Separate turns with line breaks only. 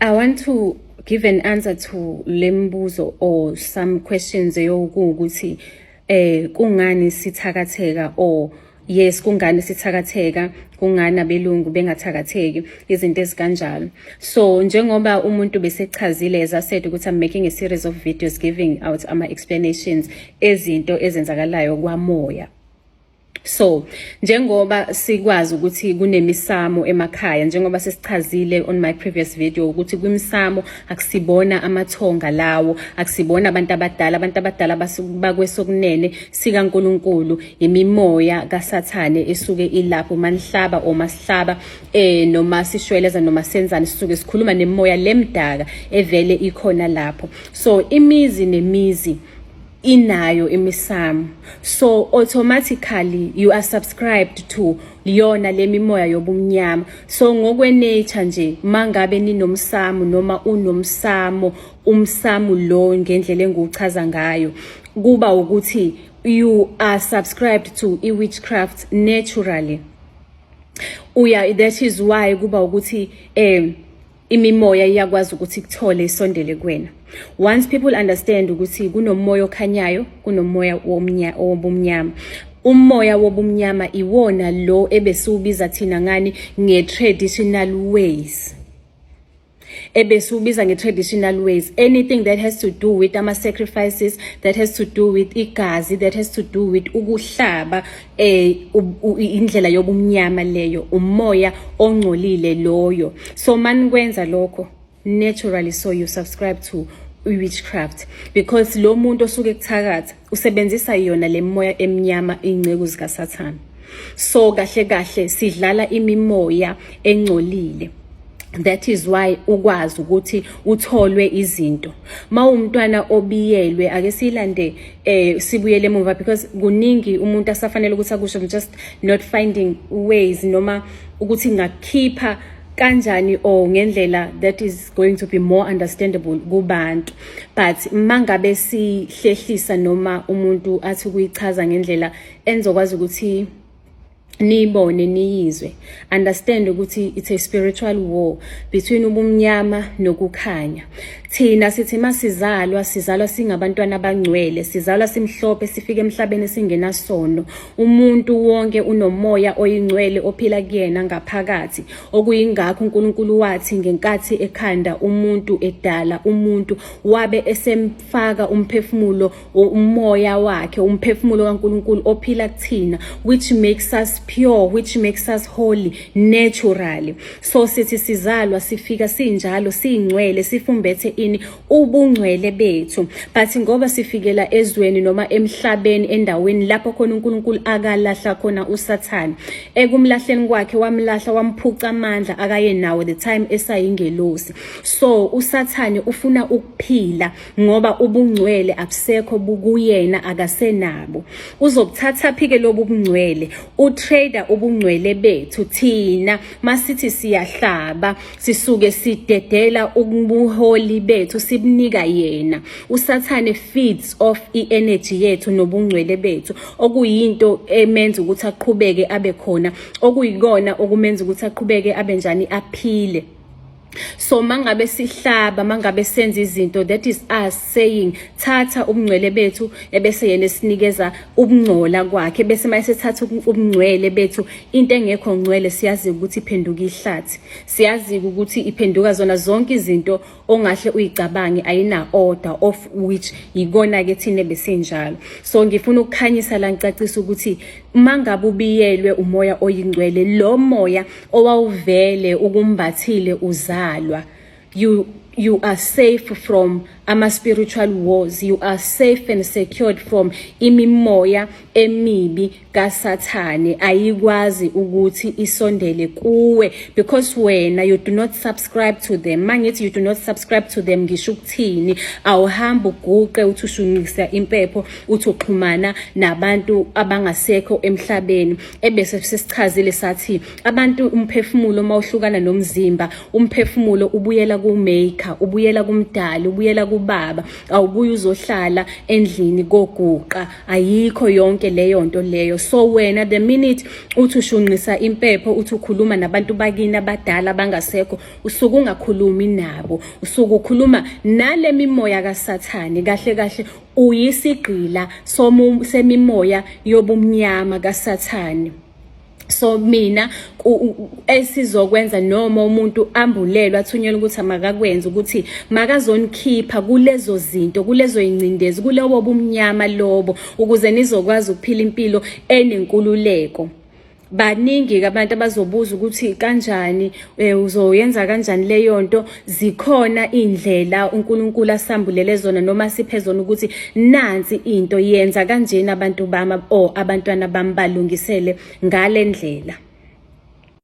I want to give an answer to lembuzo or some questions eyokuwukuthi eh kungani sithakatheka or yes kungani sithakatheka kungani abelungu bengathakatheki izinto ezikanjalo so njengoba umuntu besechazile as i said ukuthi i'm making a series of videos giving out ama explanations ezinto ezenzakalayo kwamoya So njengoba sikwazi ukuthi kunemisamo emakhaya njengoba sesichazile on my previous video ukuthi kwimisamo akusibona amathonga lawo akusibona abantu abadala abantu abadala bakwesokunene sika uNkulunkulu imimoya kaSathane esuke ilapho manihlaba oma sihlaba eh noma sishweleza noma senzani sisuke sikhuluma nemoya lemdaka evele ikhona lapho so imizi nemizi inayo imisamo so automatically you are subscribed to liyona lemimoya yobumnyama so ngokwe nature nje mangabe ninomsamo noma unomsamo umsamo lo ngendlela enguchaza ngayo kuba ukuthi you are subscribed to i witchcraft naturally uya that is why kuba ukuthi um imimoya iyakwazi ukuthi ikuthole isondele kuwena once people understand ukuthi kunomoya okhanyayo kunomoya wobumnyama umoya wobumnyama iwona lo ebesiwubiza thina ngani nge-traditional ways ebesiwubiza nge-traditional ways anything that has to do with ama-sacrifices that has to do with igazi that has to do with ukuhlaba eh indlela yobumnyama leyo umoya ongcolile loyo so manikwenza lokho naturally so you subscribe to witchcraft because lo muntu osuke kuthakatha usebenzisa yona le moya emnyama ingceku zikasathana so kahle kahle sidlala imimoya engcolile that is why ukwazi ukuthi utholwe izinto mawumntwana obiyelwe ake silande eh sibuyele emuva because kuningi umuntu asafanele ukuthi akusho I'm just not finding ways noma ukuthi ngakhipha kanjani or ngendlela that is going to be more understandable kubantu but mangabe sihlehlisa noma umuntu athi kuyichaza ngendlela enzokwazi ukuthi niyibone niyizwe understand ukuthi it's a spiritual war between ubumnyama nokukhanya thina sithi masizalwa sizalwa singabantwana abangcwele sizalwa simhlophe sifike emhlabeni singenasono umuntu wonke unomoya oyingcwele ophila kuyena ngaphakathi okuyingakho uNkulunkulu wathi ngenkathi ekhanda umuntu edala umuntu wabe esem faka umphefumulo umoya wakhe umphefumulo kaNkuluNkulu ophila kuthina which makes us pure which makes us holy naturally so sithi sizalwa sifika sinjalo singcwele sifumbethe ini ubungcwele bethu but ngoba sifikela ezweni noma emhlabeni endaweni lapho khona uNkulunkulu akalahla khona uSathane ekumlahleni kwakhe wamlahla wamphuca amandla akaye nawo the time esayingelosi so usathane ufuna ukuphila ngoba ubungcwele abusekho bukuyena akasenabo uzokuthatha phike lobu bungcwele utrader ubungcwele bethu thina masithi siyahlaba sisuke sidedela ubuholi bethu sibunika yena usathane feeds off i-energy yethu nobungcwele bethu okuyinto emenza ukuthi aqhubeke abe khona okuyikona okumenza ukuthi aqhubeke abe njani aphile so mangabe sihlaba mangabe senza izinto that is us saying thatha ubungcwele bethu ebese yena esinikeza ubungcola kwakhe bese mayise thatha ubungcwele bethu into engekho ngcwele siyazi ukuthi iphenduka ihlathi siyazi ukuthi iphenduka zona zonke izinto ongahle uyicabange ayina order of which yikona ke thina besinjalo so ngifuna ukukhanyisa la ngicacisa ukuthi mangabe ubiyelwe umoya oyingcwele lo moya owawuvele ukumbathile uzalwa you you are safe from ama spiritual wars you are safe and secured from imimoya emibi kasathane ayikwazi ukuthi isondele kuwe because wena you do not subscribe to them mangithi you do not subscribe to them ngisho ukuthini awuhambi uguqe uthi ushunqisa impepho uthi uxhumana nabantu abangasekho emhlabeni ebese sesichazile sathi abantu umphefumulo uma uhlukana nomzimba umphefumulo ubuyela kumaker ubuyela kumdali ubuyela kubaba awubuye uzohlala endlini koguqa ayikho yonke leyo nto leyo so wena the minute uthi ushunqisa impepho uthi ukhuluma nabantu bakini abadala abangasekho usuke ungakhulumi nabo usuke ukhuluma nale mimoya kasathane kahle kahle uyisigqila semimoya yobumnyama kaSathane so mina esizokwenza noma umuntu ambulelwe athunyelwe ukuthi makakwenze ukuthi makazonikhipha kulezo zinto kulezo ingcindezi kulobo bumnyama lobo ukuze nizokwazi ukuphila impilo enenkululeko baningi-ke abantu abazobuza ukuthi kanjani eh, uzoyenza kanjani leyo nto zikhona iy'ndlela unkulunkulu asambulele zona noma asiphe zona ukuthi nansi into yenza kanjeni abantu bami o abantwana bami balungisele ngale ndlela